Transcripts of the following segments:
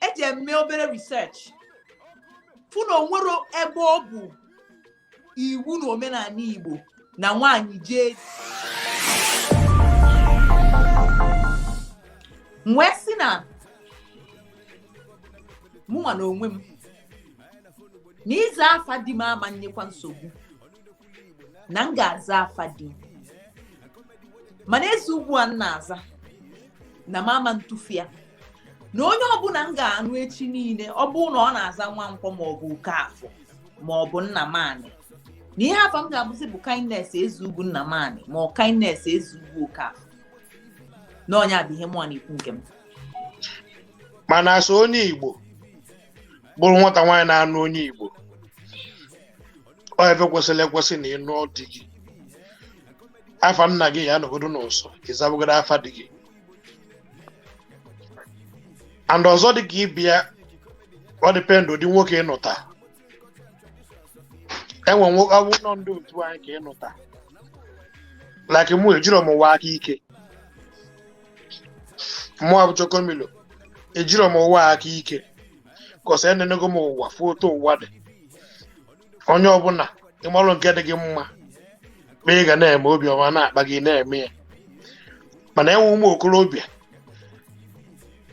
eji m mee obere research fụ na onwero ebe ọ bụ iwu na omenaanị Igbo na nwaanyị jee wee sị na mụnwa na onwe m na ịza afa di m ama nyekwa nsogbu na m ga-aza afa di m mana ezeugwu a m na-aza na m ama ntụfu ya na onye ọbụna m ga-anụ echi niile ọ bụrụ na ọ na-aza nwankwọ maọbụ okeafọ maọbụ nnamanị na ihe afa m ga-abụzi bụ kindness ezeugwu nnamanị ma ọ kindness ezeugwu okeafọ na nya bụ ihe mụwa na-ekwu nke m mana sọ onye igbo bụrụ nwata nwaanyị na-anụ onye igbo ọ ife kwesịrị ekwesị na ịnụ di gị afa nna gị ya anọgodo n'ụsọ ịzabagodo afa di gị and ọzọ dị ka ibe ya ọ dependụ ụdị nwoke ịnụta enwe nwoke ọ bụ na ọ ndị otu anyị ka ịnụta like mụ ejiro m ụwa aka ike mụ abụ chokomilo ejiro m ụwa aka ike cos enenego m ụwa fụ otu ụwa dị onye ọbụna ịmarụ nke dị gị mma ma ị ga na-eme obiọma na-akpa gị na-eme ya mana enwe ụmụ okorobịa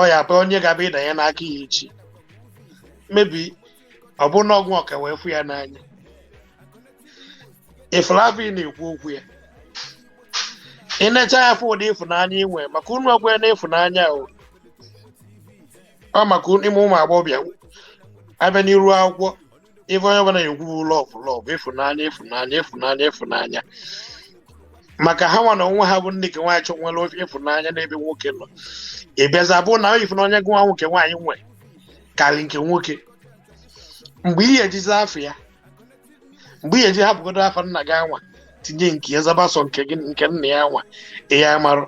ọ ya bụ onye ga-abụ ịdanye n'aka ya echi maybe ọ bụ na ọ bụ nwoke a wee fụ ya n'anya ị fall love ị na-ekwu okwu ya ị na-eche ya fụ ụdị ịfụnanya inwe maka unu ọgwa ya na ịfụnanya o ọ maka ime ụmụ agbọghọbịa abịa n'iru akwụkwọ ife onye ọbụla na-ekwu bụ love love ịfụnanya ịfụnanya ịfụnanya ịfụnanya maka ha nwa na onwe ha bụ nne nke nwaanyị chọ nwere ofe ịfụnanya n'ebe nwoke nọ ị bịaza bụ na ifu na onye bụ nwa nwoke nwaanyị nwe karị nke nwoke mgbe ihe ejizi afa ya mgbe ihe eji hapụgodo afa nna gị anwa tinye nke ya zaba sọ nke gị nke nna ya anwa ihe ya marụ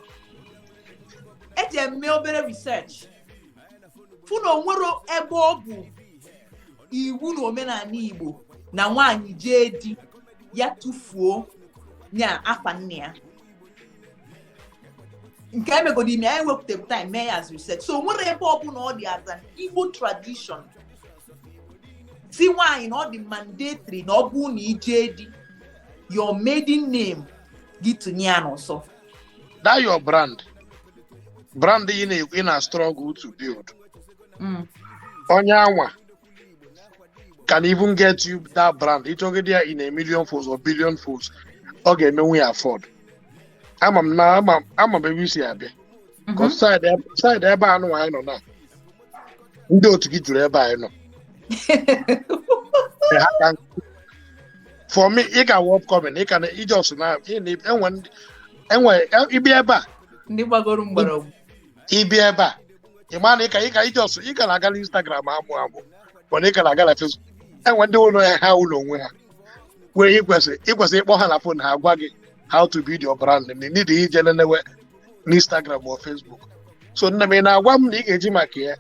eji m mee obere research fụ na onwero ebe ọ bụ iwu na omenaanị Igbo na nwaanyị jee di ya tụfuo nya afa nna ya nke emegodi ime anyị wepụtara time mee ya as research so onwero ebe ọbụna ọ dị as an Igbo tradition sị nwaanyị na ọ dị mandatory na ọ bụrụ na ijee di your maiden name gị tụnye ya n'ụsọ that your brand brand ị na- ị na struggle to build Mm. onye anwa can even get you that brand ị chọgide ya in a million folds or billion folds ọ ga-emenwu ya afford ama m na ama m- ama m ebe i si abịa Mhm. Because side eb- side ebe a nụnwa anyị nọ na ndị otu gị juru ebe anyị nọ Ee, ha ka nkụ. for me ị ka wụ upcoming ị ka na ije ọsụ na ị na- enwe ndị- enwe ị bịa ebe a ndị gbagoro mgbọrọgwụ ị bịa ebe a ị ma na ị ka ị ka ije ọsụ ị ka na-aga na instagram amụ amụ mana ị ka na-aga na facebook enwe ndị ụlọ ya ha ụlọ onwe ha wee i kwesị i kwesị ịkpọ ha na fon ha gwa gị how to build your brand na need ije lenewe n'Instagram ma Facebook so nne m ị na-agwa m na ị ga-eji maka ya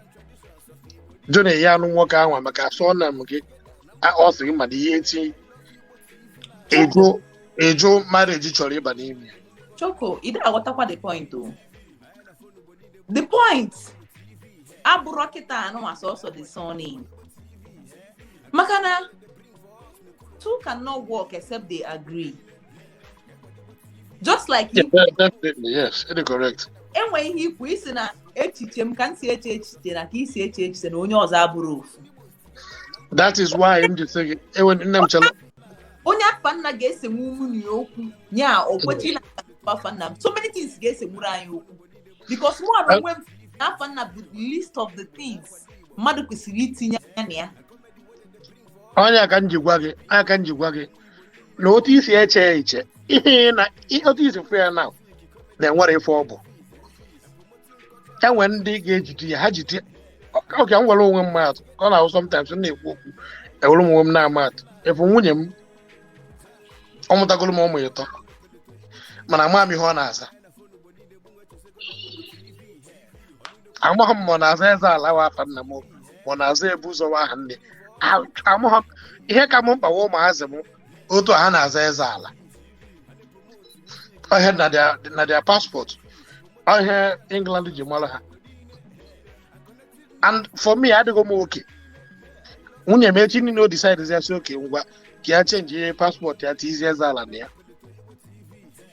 jụ na ya anụ nwoke ahụ maka surname gị a- ọ sị gị mana ihe e ji ịjụ ịjụ marriage chọrọ ịba n'ime ya Choco, ị dịghị aghọtakwa the point o. The point abụrọ kịta anụ ma sọsọ the surname. Maka na two cannot walk except they agree. just like yeah, definitely yes it is correct enwe ihe i kwu i sị na echiche m ka m si eche echiche na ka i si eche echiche na onye ọzọ abụrọ ofu that is why m ji sị gị enwe nne m chala onye afa nna ga-esenwu mụ na ya okwu ya okwechi na afa nna m so many things ga-esenwuru anyị okwu because mụ na onwe m na afa nna bụ the least of the things mmadụ kwesịrị itinye anya na ya ọ nya ka m ji gwa gị ọ nya ka m ji gwa gị na otu i si eche ya iche ihe na otu i si fụ ya na enwerọ ife ọ bụ enwe ndị ga-ejide ya ha jide okay ka m were onwe m maa atụ ka ọ na-ahụ sometimes m na-ekwu okwu ewere m onwe m na-ama atụ ị fụ nwunye m ọ mụtagoro m ụmụ ịtọ mana ama m ihe ọ na-aza amaghị m ma ọ na-aza Ezeala wụ afa nna m ma ọ na-aza Ebuzọ wụ aha nna ya amaghị m ihe ka m mkpa wụ ụmụazị m otu a ha na-aza Ezeala ọ ihe na their- na their passport ọ ihe England ji mara ha and for me adịgo m okay nwunye m echi niile ọ decide ya sị okay ngwa ka ya chenjie passport ya tizie Ezeala na ya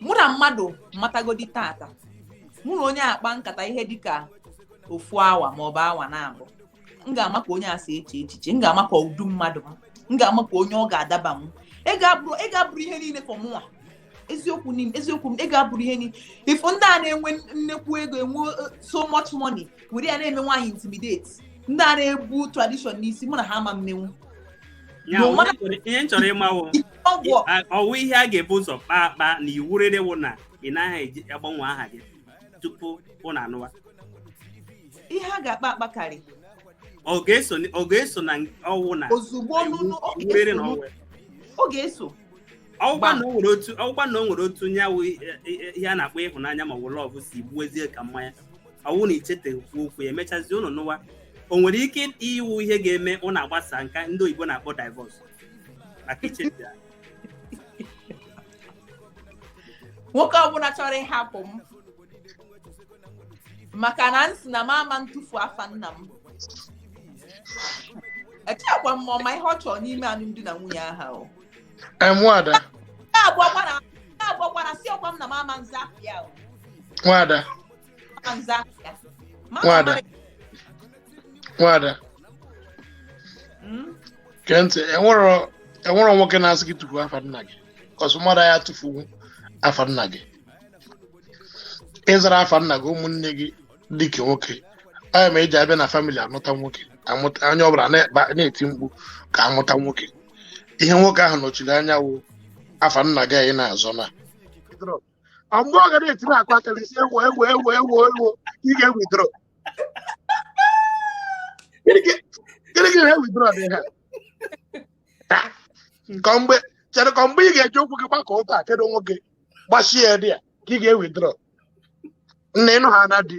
mụ na mmadụ matagodi taata mụ na onye a kpaa nkata ihe dịka ofu awa maọbụ awa naabọ m ga-ama ka onye a si eche echiche m ga-ama ka ụdị mmadụ m m ga-ama ka onye ọ ga-adaba m ị ga-abụrụ ihe niile for mụnwa eziokwu m eziokwu m ị ga-abụrụ ihe niile ị fụ ndị a na-enwe nnekwu ego enwe uh, so much money were ya na-eme nwaanyị intimidate ndị a na-ebu tradition n'isi mụ na ha ama emenwu ihe m chọrọ ịmawo ọwụ ihe a ga-ebu ụzọ kpaa akpa na iwu rere wụ na ị naghị eji agbanwe aha gị tupu ụnụ anụwa ihe a ga-akpa akpa karị ọ ga-eso na ọwụ na ozugbo ọ ga-eso ọgwa na o nwere otu onye awụ e, e, e, ihe a na-akpọ ịhụnanya ma ọ bụ love si gbuo ezie ka mmanya ọwụ na ichetekwu okwu ya emechazi ụnụ nụwa o nwere ike ịwụ ihe ga-eme ụnụ agbasa nke ndị oyibo na-akpọ divorce na kitchen ya nwoke ọbụla chọrọ ịhapụ m maka na m sị na m ama ntụfu afa nna m echekwa m ma ọ ma ihe ọ chọrọ n'ime alụmdi na nwunye aha o nwada na-agwagwara si ọkwa m na m ama nza ya o nwada nwada nwada gee ntị enwerọ enwerọ nwoke na-asị gị tụfuo afa nna gị cos mmadụ ya tụfuwu afa nna gị ịzara afa nna gị ụmụnne gị ndị nke nwoke ọ ya mere e ji abịa na family amụta nwoke amụta onye ọbụla na-ekpa- na-eti mkpu ka amụta nwoke ihe nwoke ahụ nọchiri anya wụ afa nna gị anyị na-azọ na ọ mgbe ọ ga na-eti na akwa akara isi ewo ewo ewo ewo ewo ị ga-ewithdraw gịnị ka gịnị ka ihe withdraw dị ha Ah, nke mgbe chere ka mgbe ị ga-eji ụkwụ gị gbakọ ụta kedu nwoke gbachie ya dị ya ka ị ga-ewithdraw na ịnụ ha na di